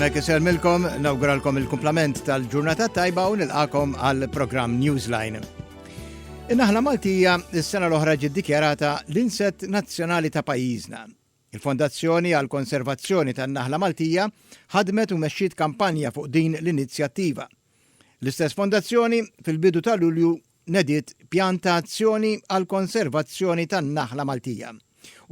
Għadmek iselmilkom, nawguralkom il-kumplament tal-ġurnata tajba u nilqakom għal-program Newsline. Innaħla Maltija s-sena l-oħra ġiddikjarata l-inset nazzjonali ta' pajjiżna. Il-Fondazzjoni għal konservazzjoni tan-Naħla Maltija ħadmet u mexxiet kampanja fuq din l-inizjattiva. L-istess fondazzjoni fil-bidu ta' Lulju nediet pjan ta' azzjoni għall-konservazzjoni tan-naħla Maltija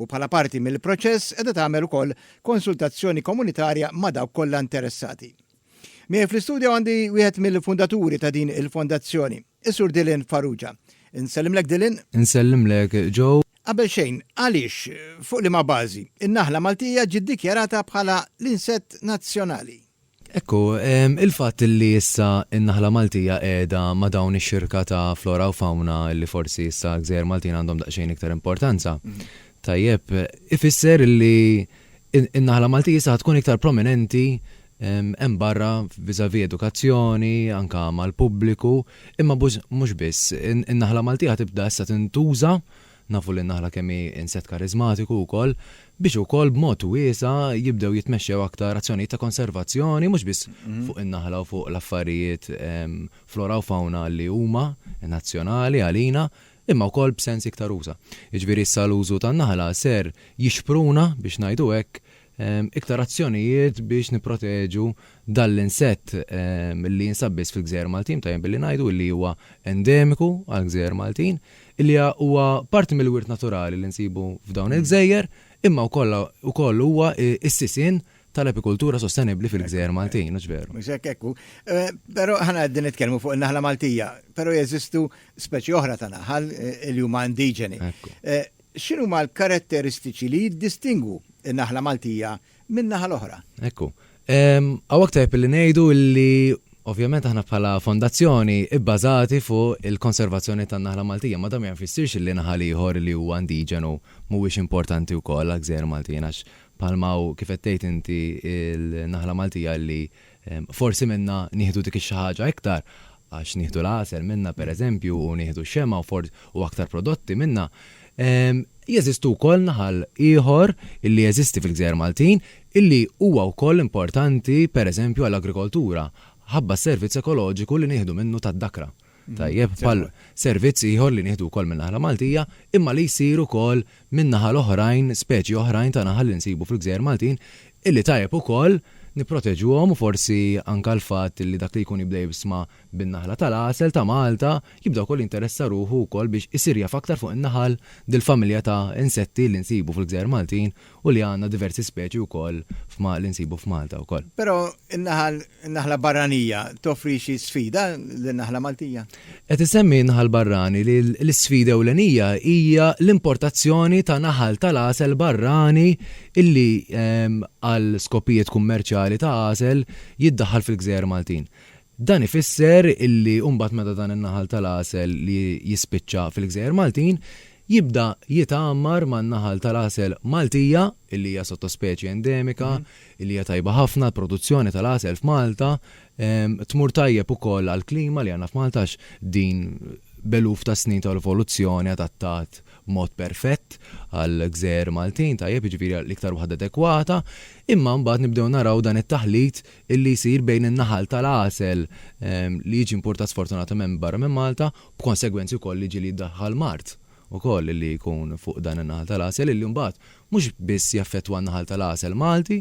u bħala parti mill-proċess qiegħda tagħmel ukoll konsultazzjoni komunitarja ma' dawk kollha interessati. Miegħi fl-istudju għandi wieħed mill-fundaturi ta' din il-fondazzjoni, is-Sur Dylan Farrugia. Insellimlek Dylan. Insellimlek Joe. Qabel xejn, għaliex, fuq liema bażi, in-naħla Maltija ġiet dikjarata bħala l-insett nazzjonali? Hekk hu. Il-fatt li issa n-naħla Maltija qiegħda ma' dawn ix-xirka ta' flora u fawna li forsi issa l-gżejjer Maltin għandhom daqsxejn iktar importanza, tajjeb, ifisser li n-naħla Maltija issa ħa tkun iktar prominenti hemm barra vis-à-vis edukazzjoni, anke mal-pubbliku, imma mhux biss. In-naħla Maltija ħa tibda issa tintuża. nafu li n-naħla kemm hi insett kariżmatiku wkoll, biex ukoll b'mod wiesa' jibdew jitmexxew aktar azzjonijiet ta' konservazzjoni mhux biss fuq in-naħla u fuq l-affarijiet flora u fawna li huma nazzjonali għalina imma wkoll b'sens iktar usa'. Jiġifieri issa l-użu tan-naħla ser jixpruna, biex ngħidu hekk, iktar azzjonijiet biex nipproteġu dan l-insett li jinsab biss fil-Gżejjer Maltin, tajjeb billi ngħidu li huwa endemiku għall-Gżejjer Maltin, li huwa parti mill-wirt naturali li nsibu f'dawn il-gżejjer, imma wkoll ukoll huwa s-sisien tal-apikultura sostenibbli fil-Gżejjer Maltin, hux veru? Mhux hekk, hekk hu. Però aħna qegħdin nitkellmu fuq in-naħla Maltija, però jeżistu speċi oħra ta' naħal li huma indiġeni. X'inhuma l-karatteristiċi li jiddistingwu n-naħla Maltija min-naħa l-oħra? Ekku. Hawnhekk tajjeb illi ngħidu illi ovvjament aħna bħala fondazzjoni bbażati fuq il-konservazzjoni tan-naħla Maltija, ma dan ma jfissirx illi naħal ieħor li huwa indiġenu mhuwiex importanti wkoll għall-gżejjer Maltin għax bħalma hu kif qed tgħid inti l-naħla Maltija li Forsi minnha nieħdu dik ix-xi ħaġa iktar, għax nieħdu l-għasel minnha pereżempju u nieħdu x-xemgħa u for u aktar prodotti minnha. Jeżistu wkoll naħal ieħor illi jeżisti fil-gżejjer Maltin illi huwa wkoll importanti pereżempju għall-agrikoltura, ħabba s-servizz ekoloġiku li nieħdu minnu tad-dakra. tajjeb bħal servizz ieħor li nieħdu wkoll min-naħla Maltija imma li jsir ukoll minn naħal oħrajn, speċi oħrajn ta' naħal li nsibu fil-gżejjer Maltin illi tajjeb ukoll nipproteġuhom u forsi anke l-fatt illi dak li jkun jibda jibsma bin-naħla tal-għasel ta' Malta jibda wkoll jinteressa ruħu wkoll biex isir jaf aktar fuq in-naħal, dil-familja ta' insetti li nsibu fil-gżejjer Maltin u li għandna diversi speċi wkoll f'ma li nsibu f'Malta wkoll. Però n-naħal, in-naħla barranija toffri xi sfida lin-naħla Maltija? Qed isemmi n-naħal barrani li l-isfida ewlenija hija l-importazzjoni ta' naħal tal-għasel barrani illi għal skopijiet kummerċjali ta' għasel jiddaħħal fil-gżejjer Maltin. Dan ifisser illi mbagħad meta dan in-naħal tal-għasel li jispiċċa fil-gżejjer Maltin jibda jitgħammar man-naħal tal-għasel Maltija, illi hija sottospeċi endemika, illi hija tajba ħafna għall-produzzjoni tal-għasel f'Malta, tmur tajjeb ukoll għall-klima li għandna f'Malta għax din b'eluf ta' snin ta' evoluzzjoni adattat b'mod perfett għall-gżejjer Maltin, tajjeb, jiġifieri l-iktar waħda adekwata. Imma mbagħad nibdew naraw dan it-taħlit illi jsir bejn in-naħal tal-għasel li jiġi importat sfortunatament minn barra minn Malta, b'konsegwenzi wkoll li jiġi li jiddaħħal mard ukoll illi jkun fuq dan in-naħal tal-għasel illi mbagħad mhux biss jaffettwa n-naħal tal-għasel Malti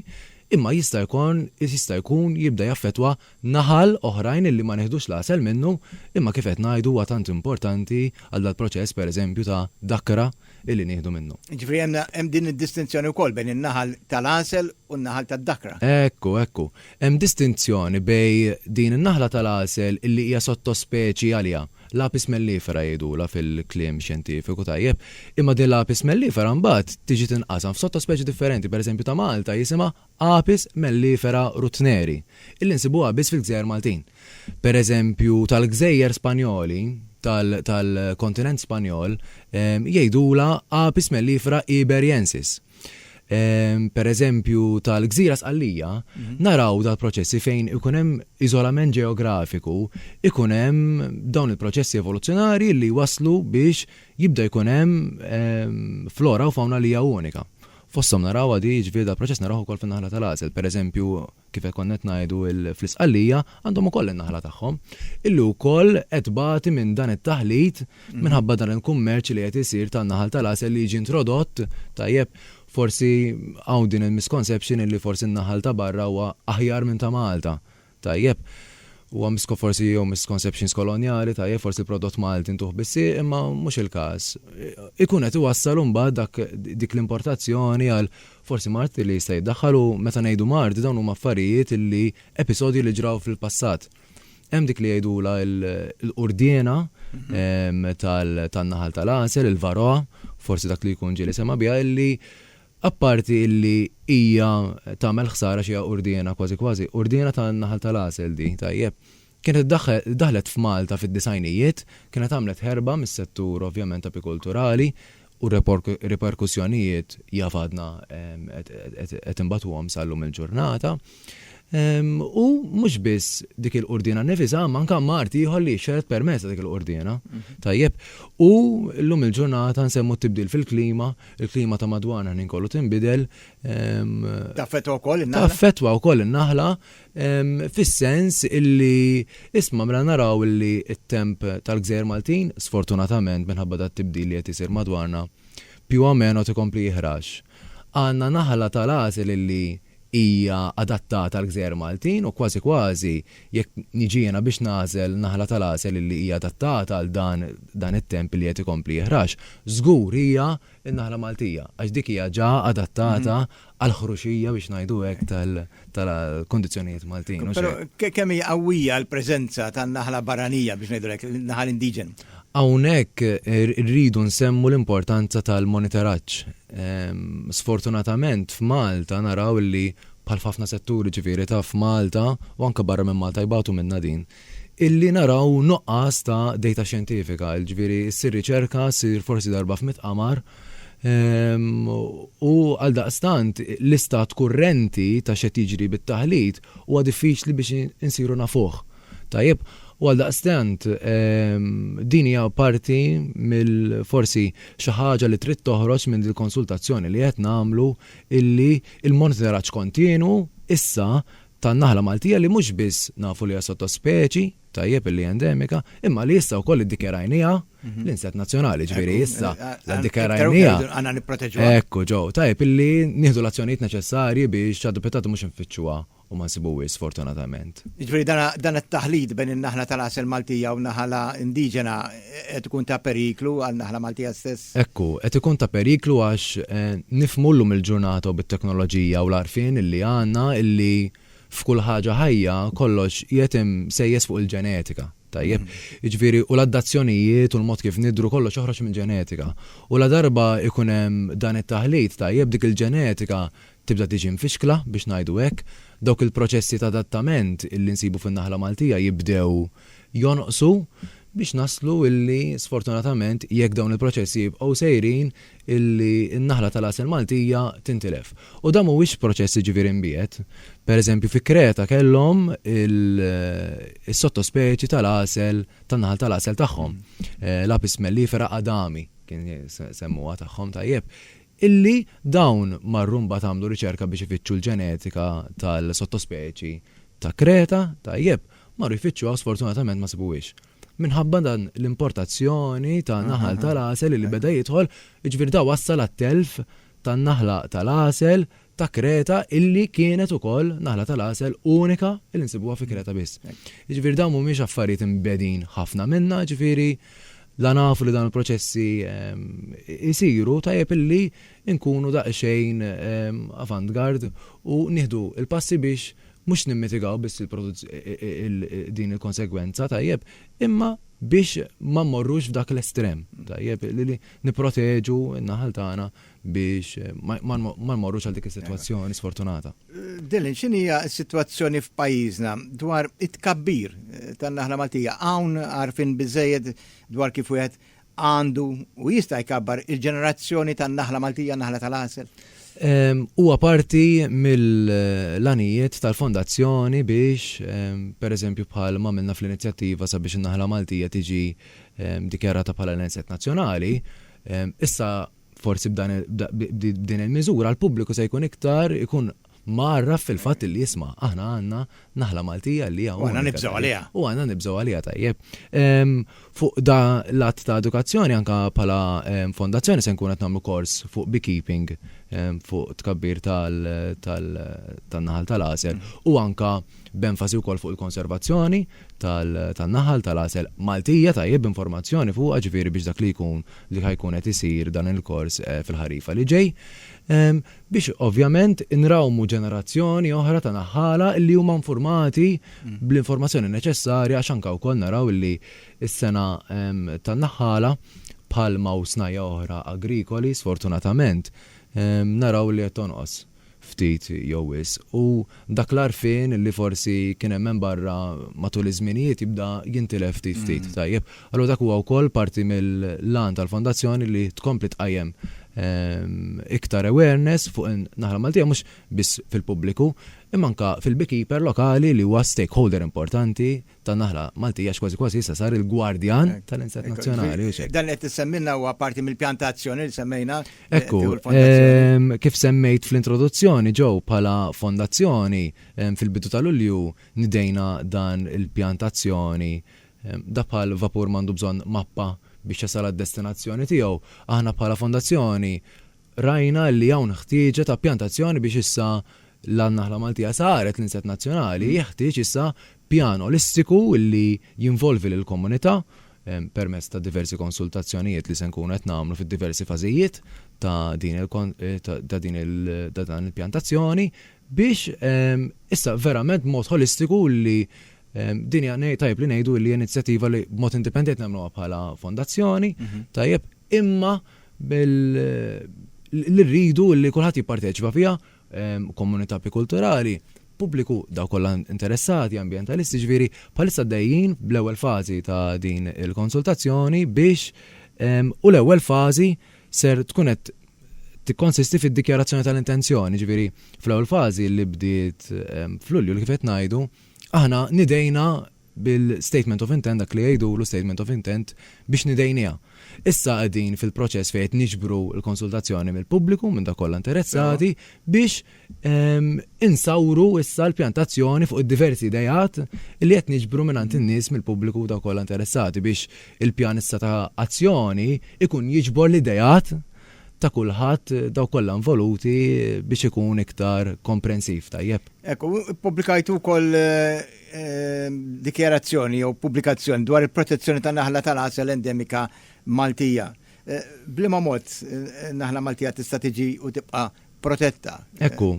imma jista' jkun jista' jkun jibda jaffettwa naħal oħrajn illi ma nieħdux l-għasel minnu imma kif qed ngħidu huwa tant importanti għal dal-proċess pereżempju ta' dakkra illi nieħdu minnu. Jiġifieri hemm hemm din id-distinzjoni wkoll bejn in-naħal tal-għasel u n-naħal tad-dakra. Ekku, ekku. Hemm distinzjoni bejn din in-naħla tal-għasel illi hija sottospeċi għaliha, l-Apis mellifera jgħidulha fil-kliem xjentifiku, tajjeb? Imma din l-Apis mellifera mbagħad tiġi tinqasam f'sottospeċi differenti, pereżempju ta' Malta jisimha Apis mellifera rutneri, illi nsibuha biss fil-gżejjer Maltin. Per eżempju, tal-gżejjer Spanjoli, tal-kontinent Spanjol, jgħidulha Apis mellifera iberiensis. Per eżempju, tal-gżira Sqallija, naraw dal-proċessi fejn ikun hemm iżolament ġeografiku, ikun hemm dawn il-proċessi evoluzzjonarji li jwasslu biex jibda jkun hemm flora u fawna li hija unika. Fosthom narawha di, jiġifieri dal-proċess narawh ukoll fin-naħla tal-għażel. Pereżempju, kif hekk konna qed ngħidu, fl-Isqallija għandhom ukoll in-naħla tagħhom, illi wkoll qed tbati minn dan it-taħlit minħabba dan il-kummerċ li qed isir tan-naħal tal-għasel li jiġi introdott, tajjeb, forsi hawn din il-misconception illi forsi n-naħal ta' barra huwa aħjar minn ta' Malta. Tajjeb. Huwa misko forsi jew misconceptions kolonjali, tajjeb, forsi l-prodott Malti ntuh bis-sieq imma mhux il-każ. Ikun qed iwassal imbagħad dak dik l-importazzjoni għal forsi mard li jista' jiddaħħal u meta ngħidu mard dawn huma affarijiet li episodji li ġraw fil-passat. Hemm dik li jgħidulha l-qurdiena tal-naħal tal-għasel, il-varroa, forsi dak li jkun ġieli sema' biha illi Apparti illi hija tagħmel ħsara xi hija urdiena kważi kważi, urdiena tan-naħal tal-għasel di, tajjeb. Kienet daħlet f'Malta fid-disgħinijiet, kienet għamlet ħerba mis-settur ovvjament apikulturali u r-riperkussjonijiet jaf għadna qed inbatuhom sal-lum il-ġurnata. U mhux biss dik il-qurdina nnifisha, imma anke mart ieħor li jixxered permezz ta' dik il-qurdina. Mhm. Tajjeb. U llum il-ġurnata nsemmu t-tibdil fil-klima, il-klima ta' madwarna ħnin kollu tinbidel. Taffetwa wkoll in-naħla. Taffetwa wkoll in-naħla fis-sens illi isma' mela naraw illi t-temp tal-gżejjer Maltin, sfortunatament minħabba dat tibdil li qed isir madwarna, più o meno tikompli jiħrax. Għandna naħla tal-għasel illi hija adattata għall-gżejjer Maltin u kważi kważi jekk niġi jiena biex nagħżel naħla tal-għasel illi hija adattata għal dan dan it-temp illi qed ikompli jeħrax, żgur hija n-naħla Maltija għax dik hija ġa adattata għall-ħruxija biex ngħidu hekk tal-kundizzjonijiet Maltin, mhux hekk? Però kemm hi qawwija l-preżenza tan-naħla barranija biex ngħidu hekk, in-naħal indiġenu? Hawnhekk irridu nsemmu l-importanza tal-monitoraġġ Sfortunatament f'Malta naraw illi bħal f'ħafna setturi ġifieri ta' f'Malta u anke barra minn Malta jbatu minnha din, illi naraw nuqqas ta' dejta xjentifika, ġifieri ssir riċerka, ssir forsi darba f'mitt qamar, u għaldaqstant l-istat kurrenti ta' x'qed jiġri bit-taħlit huwa diffiċli biex insiru nafuh. Tajjeb, u għaldaqstant din hija parti mill forsi xi ħaġa li trid toħroġ minn dil-konsultazzjoni li qed nagħmlu illi l-monitoraġġ kontinwu issa tan-naħla Maltija li mhux biss nafu li hija sottospeċi, tajjeb illi hija endemika, imma li issa wkoll iddikjarajniha l-inset nazzjonali, ġifieri issa la ddikjarajniha. Għandna nipproteġuha. Ekku ġew, tajjeb illi nieħdu l-azzjonijiet neċessarji biex ċ-ċadupitat mhux infittxuha u ma nsibuhiex sfortunatament. Jiġifieri dan dan it-taħlit bejn in-naħla tal-għasel Maltija u n-naħala indiġena qed ikun ta' periklu għan-naħla Maltija stess? Hekk hu, qed ikun ta' periklu għax nifhmu llum il-ġurnata u bit-teknoloġija u l-għarfien illi għandna illi f'kull ħaġa ħajja kollox qiegħed imsejjes fuq il-ġenetika, tajjeb? Jiġifieri u l-addazzjonijiet u l-mod kif nidhru kollox joħroġ mill-ġenetika. U ladarba jkun hemm dan it-taħlit tajjeb dik il-ġenetika tibda tiġi mfixkla biex ngħidu hekk, dawk il-proċessi ta' adattament illi nsibu fin-naħla Maltija jibdew jonqsu biex naslu illi sfortunatament jekk dawn il-proċessi jibqgħu sejrin illi n-naħla tal-għasel Maltija tintilef. U dan mhuwiex proċess jiġifieri mbiegħed. Per eżempju fi Kreta kellhom is-sottospeċi tal-għasel tan-naħal tal-għasel tagħhom, l-Apis mellifera adami kien semmuha tagħhom tajjeb, illi dawn marru mbagħad għamlu riċerka biex ifittxu l-ġenetika tal-sottospeċi ta' Kreta, tajjeb, marru jfittxuha u sfortunatament ma sibuhiex. Minħabba dan l-importazzjoni ta' naħal tal-għasel illi beda jidħol, jiġifieri da wassal għat-telf tan-naħla tal-għasel ta' Kreta illi kienet ukoll naħla tal-għasel unika illi nsibuha fi Kreta biss. Jiġifieri dawn mhumiex affarijiet imbegħdin ħafna minna, jiġifieri la nafu li dawn il-proċessi jsiru tajjeb illi nkunu daqsxejn avant-garde u nieħdu l-passi biex mhux nimmitigaw biss din il-konsegwenza, tajjeb, imma biex ma mmorrux f'dak l-estrem, tajjeb, li nipproteġu n-naħal tagħna biex ma nmorrux għal dik is-sitwazzjoni sfortunata. Dylan, x'inhija s-sitwazzjoni f'pajjiżna dwar it-tkabbir tan-naħla Maltija? Hawn għarfien biżejjed dwar kif wieħed għandu u jista' jkabbar il-ġenerazzjoni tan-naħla Maltija, naħla tal-għasel? Huwa parti mill-għanijiet tal-fondazzjoni biex, pereżempju bħal ma għamilna fl-inizjattiva sabiex in-naħla Maltija tiġi dikjarata bħala l-inset nazzjonali, issa Forsi b'dan b'din il-miżura l-pubbliku se jkun iktar ikun mgħarraf fil-fatt li isma' aħna għandna naħla Maltija li hija unika. U għandna nibżgħu għaliha. U għandna nibżgħu għaliha tajjeb. Fuq da l-att ta' edukazzjoni anke bħala fondazzjoni se nkun qed nagħmlu kors fuq beekeeping fuq tkabbir tan-naħal tal-għasel u anke b'enfasi wkoll fuq il-konservazzjoni tan-naħal tal-għasel Maltija tajjeb b'informazzjoni fuqha ġifieri biex dak li jkun li ħa jkun qed isir dan il-kors fil-ħarifa li ġej, biex ovvjament inrawmu ġenerazzjoni oħra ta' naħħala li huma infurmati bl-informazzjoni neċessarja għax anke wkoll naraw li s-sena tan-naħħala bħalma u snajja' oħra agrikoli sfortunatament naraw li qed tonqos. ftit jew wisq, u dak l-għarfien li forsi kien hemm hemm barra matul iż-żminijiet jibda jintilef ftit ftit, tajjeb? Allura dak huwa wkoll parti mill-għan tal-Fondazzjoni li tkompli tqajjem iktar awareness fuq in-naħla Maltija mhux biss fil-pubbliku imma anke fil-beekeeper lokali li huwa stakeholder importanti tan-naħla Maltija għax kważi kważi issa sar il-gwardjan tal-inzett nazzjonali u x'hekk. Dan li qed issemmilna huwa parti mill-pjan ta' azzjoni li semmejna Ekku, tieħu l-fondazzjoni. kif semmejt fl-introduzzjoni, Jo, bħala fondazzjoni, fil-bidu ta' Lulju nidejna dan il-pjan ta' azzjoni. Dak bħal vapur m'għandu bżonn mappa biex jasal għad-destinazzjoni tiegħu. Aħna bħala fondazzjoni Rajna li hawn ħtieġa ta' pjantazzjoni biex issa l-naħla Maltija saret l-insett nazzjonali, jeħtieġ issa pjan olistiku li jinvolvi lill-komunità permezz ta' diversi konsultazzjonijiet li se nkunu qed nagħmlu fid-diversi fażijiet ta' din ta' din il ta' dan il-pjantazzjoni biex issa verament b'mod ħolistiku li din hija tajjeb li ngħidu li hija inizjattiva li b'mod indipendenti nagħmluha bħala fondazzjoni, tajjeb, imma li rridu li kulħadd jipparteċipa fiha, komunità apikulturali, pubbliku, dawk kollha interessati, ambjentalisti, jiġifieri bħalissa għaddejjin bl-ewwel fażi ta' din il-konsultazzjoni biex u l-ewwel fażi ser tkun qed tikkonsisti fid-dikjarazzjoni tal-intenzjoni, jiġifieri fl-ewwel fażi li bdiet f'Lulju li kif qed ngħidu aħna nidejna bil-statement of intent, dak li jgħidulu statement of intent, biex nidejniha. Issa qegħdin fil-proċess fejn qed niġbru l-konsultazzjoni mill-pubbliku, minn dawk kollha interessati, biex insawru issa l-pjantazzjoni fuq id-diversi ideat li qed niġbru mingħand in-nies mill-pubbliku u dawk kollha interessati biex il-pjan issa ta' azzjoni jkun jiġbor l-ideat ta' kulħadd, dawk kollha involuti biex ikun iktar komprensiv, tajjeb? Hekk, u ppubblikajtu wkoll Ehm, dikjarazzjoni jew pubblikazzjoni dwar il-protezzjoni ta' naħla tal-għasel endemika Maltija. Eh, blima mod eh, naħla Maltija tista' tiġi u tibqa' protetta. Eh, Ekku,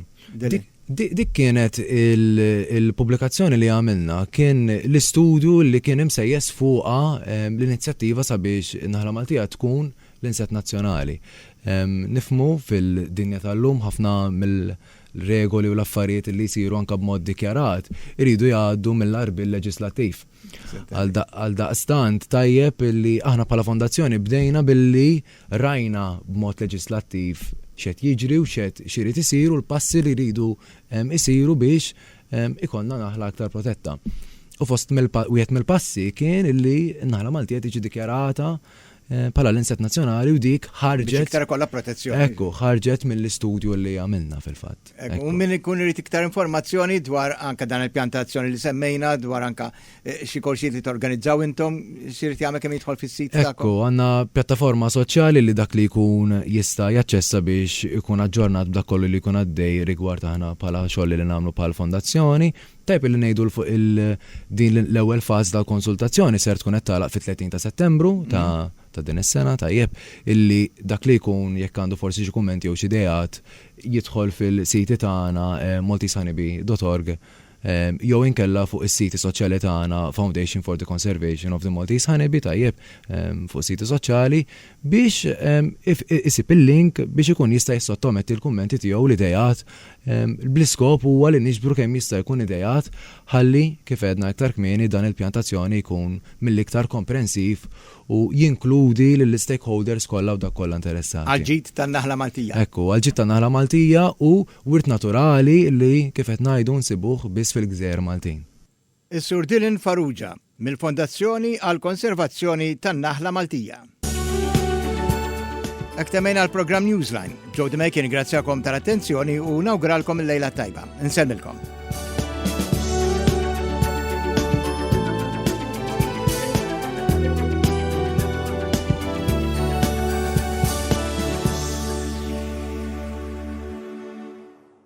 dik kienet il-pubblikazzjoni li għamilna kien l-istudju li kien imsejjes fuqa ehm, l-inizjattiva sabiex naħla Maltija tkun l-inset nazzjonali. Ehm, nifmu fil-dinja tal-lum ħafna mill- l-regoli u l-affarijiet li jsiru anke b'mod dikjarat iridu jgħaddu mill-għarbiel leġiżlattiv. Għaldaqstant tajjeb li aħna bħala fondazzjoni bdejna billi rajna b'mod leġiżlattiv x'qed jiġri u x'qed x'irid isir u l-passi li jridu jsiru biex ikollna naħla aktar protetta. U fost wieħed mill-passi kien li n-naħla Maltija tiġi dikjarata bħala l-insett nazzjonali u dik ħarġet. Biex iktar ikollha protezzjoni. Ekku, ħarġet mill-istudju li għamilna fil-fatt. U min ikun irid iktar informazzjoni dwar anka dan il-pjantazzjoni li semmejna, dwar anka eh, xi korsijiet li torganizzaw intom, xirid jagħmel kemm jidħol fis-sit tagħkom. Ekku, għandna pjattaforma soċjali li dak li jkun jista' jaċċessa biex ikun aġġornat b'dak kollu li jkun għaddej rigward aħna bħala xogħol li nagħmlu bħal fondazzjoni, Tajjeb illi ngħidu 'l fuq il din l-ewwel fażi tal-konsultazzjoni ser tkun qed tagħlaq fit-30 ta' Settembru ta' ta' din is-sena, tajjeb illi dak li jkun jekk għandu forsi xi kummenti jew xi ideat jidħol fil-siti tagħna maltesehoneybeedotorg jew inkella fuq is-siti soċjali tagħna Foundation for the Conservation of the Maltese Honeybee tajjeb fuq is-siti soċjali. biex isib il-link biex ikun jista' jissottometti l-kummenti tiegħu u l-ideat bl-iskop huwa li niġbru kemm jista' jkun ideat ħalli, kif għedna iktar kmieni, dan il-pjan t'azzjoni jkun mill-iktar komprensiv u jinkludi lill-istakeholders kollha u dawk kollha interessati. Għall-ġid tan-naħla Maltija. Hekk hu, għall-ġid tan-naħla Maltija u wirt naturali li, kif qed ngħidu, nsibuh biss fil-gżejjer Maltin. Is-Sur Dylan Farrugia, mill-Fondazzjoni għall-Konservazzjoni tan-Naħla Maltija. Hekk temmejna l-programm Newsline. Joe DeMake ingrazzjakom tal-attenzjoni u nawguralkom il-lejla tajba. Insellmilkom.